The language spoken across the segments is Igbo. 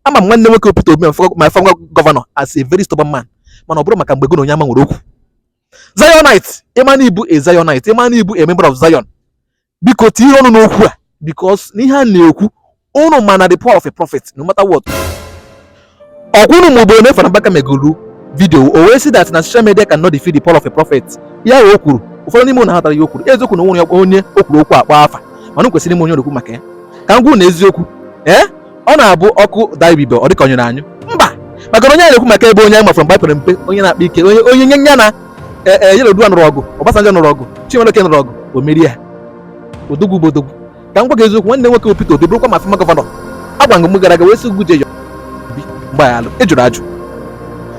ama m nwanne nwoke Peter Obi my former governor as a very stubborn man mana ọ bụrụ maka mgbe gị na onye amụma nwere okwu Zionite ị ma na ị bụ a Zionite ị ma na ị bụ a member of Zion biko tinye ọnụ n'okwu a because n'ihe a na-ekwu unu ma na the power of a prophet no matter what ọ kwa unu mụbụ onye Fada Mbaka megolu vidio o wee sị that na social media cannot defeat the power of a prophet ihe o kwuru ụfọdụ n'ime unu ghọtara ihe o kwuru eziokwu na o nwere onye o kwuru okwu akpọ afa mana kwesịrị ịma onye na-ekwu maka ya ka m gwa unu eziokwu ee eh? ọ na-abụ ọkụ daa ibube ọ dịka ọ nyụrụ anyụ mba maka na onye na-ekwu maka ebe onye anyị ma from mgbe pere mpe onye na-akpa ike onye onye onye nya na e, e, Yar'Adua nụrụ ọgụ Obasanjo nụrụ ọgụ Chimaroke nụrụ ọgụ o merie ya odogwu bụ odogwu ka m gwa gị eziokwu nwanne nwoke Peter Obi bụrụkwa my former governor agwa m gụ gara aga wee sị gụ jee yọọ mgbaghalụ ị jụrụ ajụ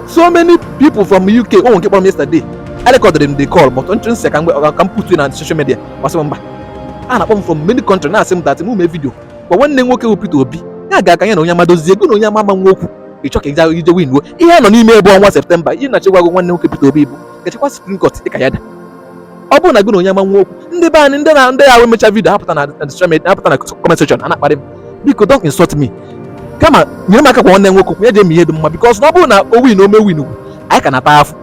so many people from UK o nwere nke kpọrọ m yesterday I recorded m the call but mụ asị ka m put na social media ọ sị m mba a na-akpọ m from many country na-asị m that m mee vidio gwa nwanne nwoke bụ Peter Obi ya gaa ka ya na onye amụma dozie gụ na onye amụma nwee okwu ị chọ ka ị ja-eje winuo ihe a nọ n'ime bụ ọnwa septemba ihe m na-achọ ịgwa gụ nwanne nwoke Peter Obi bụ gị jekwa Supreme Court ị ka ya ada ọ bụrụ na gị na onye amụma nwee okwu ndị be anyị ndị na ndị ahụ emecha vidio apụta na social media apụta na comment section a na-akparị m biko don't insult me kama nyere m aka gwa nwanne nwoke okwu ya jee mee ihe dị mma because na ọ bụrụ na o win o mee win ugwu anyị ka na-ata afụ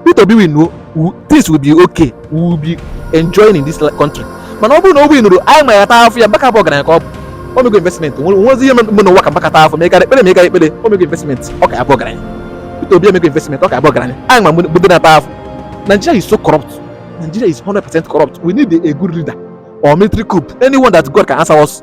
Peter Obi winuo things will be okay we will be enjoying in this country mana ọ bụrụ na o winurọ anyị ma ya taa afụ ya Mbaka bụ ọgaranya ka ọ bụ o mego investment nwezi ihe mgbe n'ụwa ka Mbaka taa afụ ma ị gara ekpere ma ị gara ekpere o mego investment ọ ka abụ ọgaranya Peter Obi emego investment ọ ka abụ ọgaranya anyị ma mgbe dị na-ata afụ Nigeria is so corrupt Nigeria is 100% corrupt we need a good leader or military coup anyone that God can answer us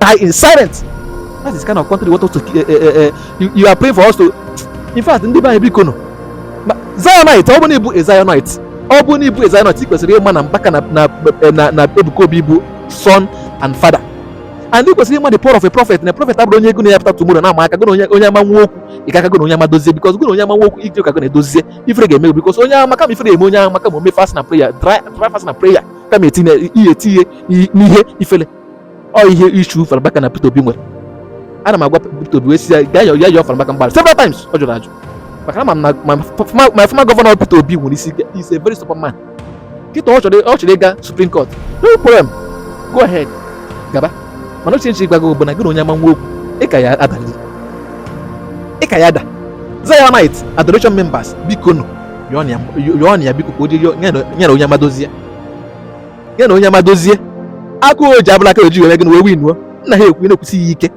die in silence that is kind of country you want us to uh, uh, uh, you, you are praying for us to in fact ndị be anyị bikonụ Zionite ọ bụ na ị bụ a Zionite ọ bụ na ị bụ a Zionite ị kwesịrị ịma na Mbaka na na na na Ebuka Obi bụ son and father and ị kwesịrị ịma the power of a prophet na prophet abụrọ onye gụ na ya pụta tomorrow na-ama aka gụ na onye amụma nwee okwu ị gaa ka gụ na onye amụma dozie because gụ na onye amụma nwee okwu ị jụ ka gụ na ya dozie ifere ga-eme because onye amụma kama ifere eme onye amụma kama o mee fast na prayer dry fast na prayer kama etinye ihe etinye n'ihe ifele ọ ihe issue Fada Mbaka na Peter Obi nwere ana m agwa Peter Obi wee sị ya gaa ya yọọ Fada Mbaka mgbaghara several times ọ jụrụ ajụ maka na ma my former governor Peter Obi nwere isi is a very stubborn man kịta ọ chọrọ ịga Supreme Court no problem go ahead gaba mana ọ ihe m chọ ịgwa gị bụ na gị na onye amụma nwee okwu ị ka ya ada ị ka ya ada Zionite adoration members bikonụ yọọnụ ya biko ka o jee yọọ ya na onye amụma dozie ya ya na onye amụma dozie akụ o ji abụla aka oji were gị na wee winuo nna ha ekwu na-ekwusi ya ike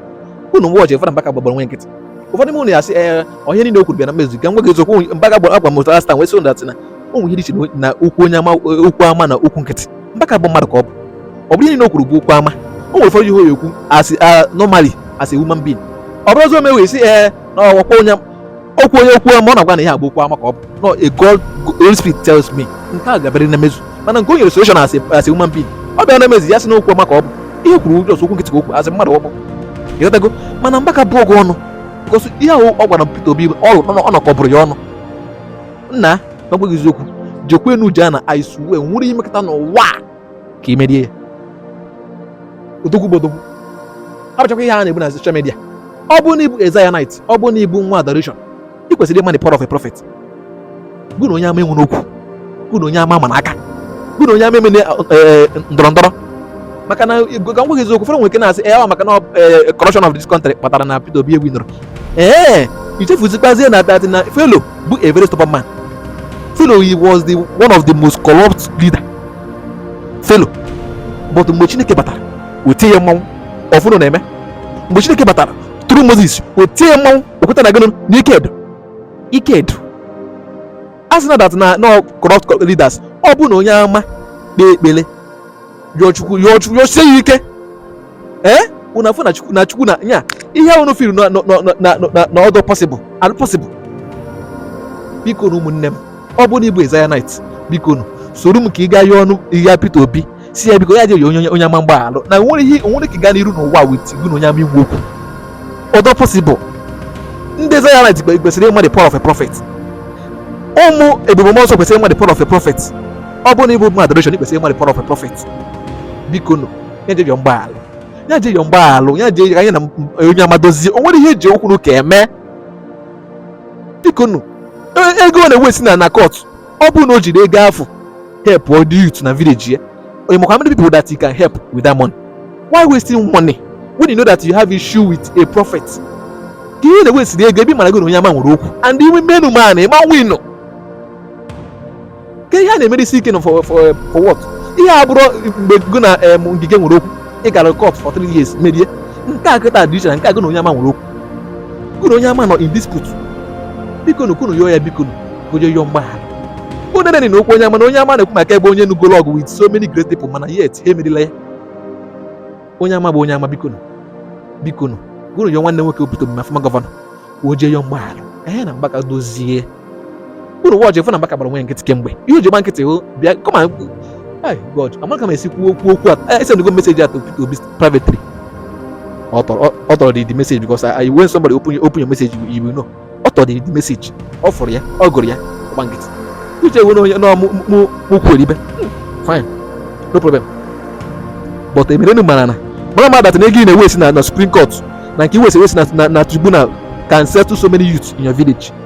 unu mgbe ọchị Fada mbaka gbagbara nwe nkịtị ụfọdụ n'ime ụnụ ya sị ee ọ bụ ihe niile o kwuru bịa na mmezu ka m gwa gị eziokwu mbaka gbara agwa mụtara last time wee sị ụnụ that na o nwere ihe dị iche na okwu onye amụma okwu amụma na okwu nkịtị mbaka bụ mmadụ ka ọ bụ ọ bụrọ ihe niile o kwuru bụ okwu amụma o nwere ụfọdụ ihe ọ na-ekwu as normally as a human being ọ bụrụ ọzọ e mewe sị ee na ọ bụkwa onye okwu onye okwu amụma ọ na-agwa na ihe a bụ okwu amụma ka ọ bụ no a god holy spirit tells me nke a ga-abịarịrị na mmezu mana nke o nyere solution as a as a human being ọ bịa na mmezu ya sị na okwu amụma ka ọ bụ ihe o kwuru ụjọ okwu nkịtị ka o kwuru as mmadụ ọ bụ ị ghọtago mana Mbaka bụgo ọnụ because ihe ahụ ọ gwara Peter Obi ọ bụ ọnụ ka ọ bụrụ ya ọnụ nna na m gwa gị eziokwu jekwanụ ji a na i swear nwerọ ihe ị mekata n'ụwa ka ị merie ya odogwu bụ odogwu abụchakwa ihe a na-ebu na social media ọ bụ na ị bụ a Zionite ọ bụ na ị bụ nwa adoration ị kwesịrị ịma the power of a prophet gụ na onye amụma enwena okwu gụ na onye amụma amana aka gụ na onye amụma emena ndọrọ ndọrọ maka na ka m gwa gị eziokwu ụfọdụ nwere ike na-asị ee eh, maka na eh, corruption of this country kpatara na Peter Obi ewinurọ ee i chefuzikwazie na that na Felo bụ a very stubborn man Felo he was the one of the most corrupt leader felo but mgbe chineke batara o tie ya mmanwụ ọfụnụ na-eme mgbe chineke batara through moses o tie ya mmanwụ o kweta na gịnụ n'ike edo ike edo a sị na that na na corrupt leaders ọ bụ na onye amụma kpee ekpere yọọ chukwu yọọ chukwu yọsie ya ike ee eh? unu afụ na chukwu na chukwu na nya ihe unu feel na ọ dịrọ possible adị possible biko nu ụmụnne m ọ bụrụ na ị bụ a Zionite biko nu soro m ka anyị gaa yọọnụ ya Peter Obi sị ya biko ya je yọọ onye amụma mgbaghalụ na o nwerọ ihe o nwere ka gaa n'iru n'ụwa with gị na onye amụma inwe okwu ọ dịrọ possible ndị Zionite kwesịrị ịma the power of a prophet ụmụ ebube mmụọ nsọ kwesịrị ịma the power of a prophet ọ bụrụ na ị bụ nwa adoration ị kwesịrị ịma the power of a prophet biko nu ya jee yọọ mgbaghara ya jee yọọ mgbaghara ya jee ya na onye amụma dozie o nwerọ ihe e ji okwu na ụka eme bikonu e, ego ọ na-ewesti na na court ọ bụrụ na o jiri ego afụ help all the youth na village ya onye makwa how many people that you can help with that money why wasting money when you know that you have issue with a prophet kee ihe ị na-ewestiri ego ebe ị mara gị na onye amụma nwere okwu and iwe menu man ị ma winu kee ihe a na-emere isi ike na for for for what ihe a bụrọ mgbe gị na em Ngige nwere okwu ị gara court for three years merie nke a kịta dị iche na nke a gị na onye amụma nwere okwu gị na onye amụma nọ in dispute bikonu ka unu yọọ ya bikonu ka o jee yọọ mgbaghara onye nene na okwu onye amụma na onye amụma na-ekwu maka ebe onye nụgolu ọgụ with so many great people mana yet ha emerirọ ya onye amụma bụ onye amụma bikonu bikonu gụrụ yọọ nwanne nwoke obodo mma former gọvanọ ka o jee yọọ mgbaghara ka ya na Mbaka dozie unu wọchị fụ na Mbaka gbara unu nkịtị kemgbe ihe o ji gba nkịtị hụ bịa kọma Hey God, amaghị m ka m ga-esi kwuo okwu. Esendigo m message to, to Obi privately. Ọ fụrụ, ọ fụrụ the, the message because I, I when somebody open you open your message, you, you will know. Ọ fụrụ the, the message. Ọ fụrụ ya, ọ gụrụ ya, gba nkịtị. You just know no mu mu mu kwelibe. Fine, no problem. But emere nu manana. Mara ma that na ego ị na-ewaste na na Supreme Court. Na nke ị waste waste na na tribunal can settle so many youths in your village.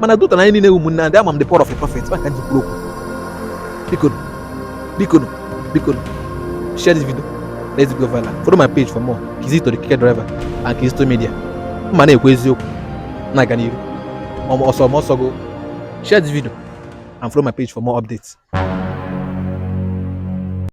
mana duta na anyị niile ụmụnne ndị ama m the power of a prophet Mbaka ji kwuru okwu biko biko biko share this video let's go viral follow my page for more Kizito the Keke Driver and Kizito Media mma na-ekwu eziokwu na-aga n'iru ọsọ ọsọ go share this video and follow my page for more updates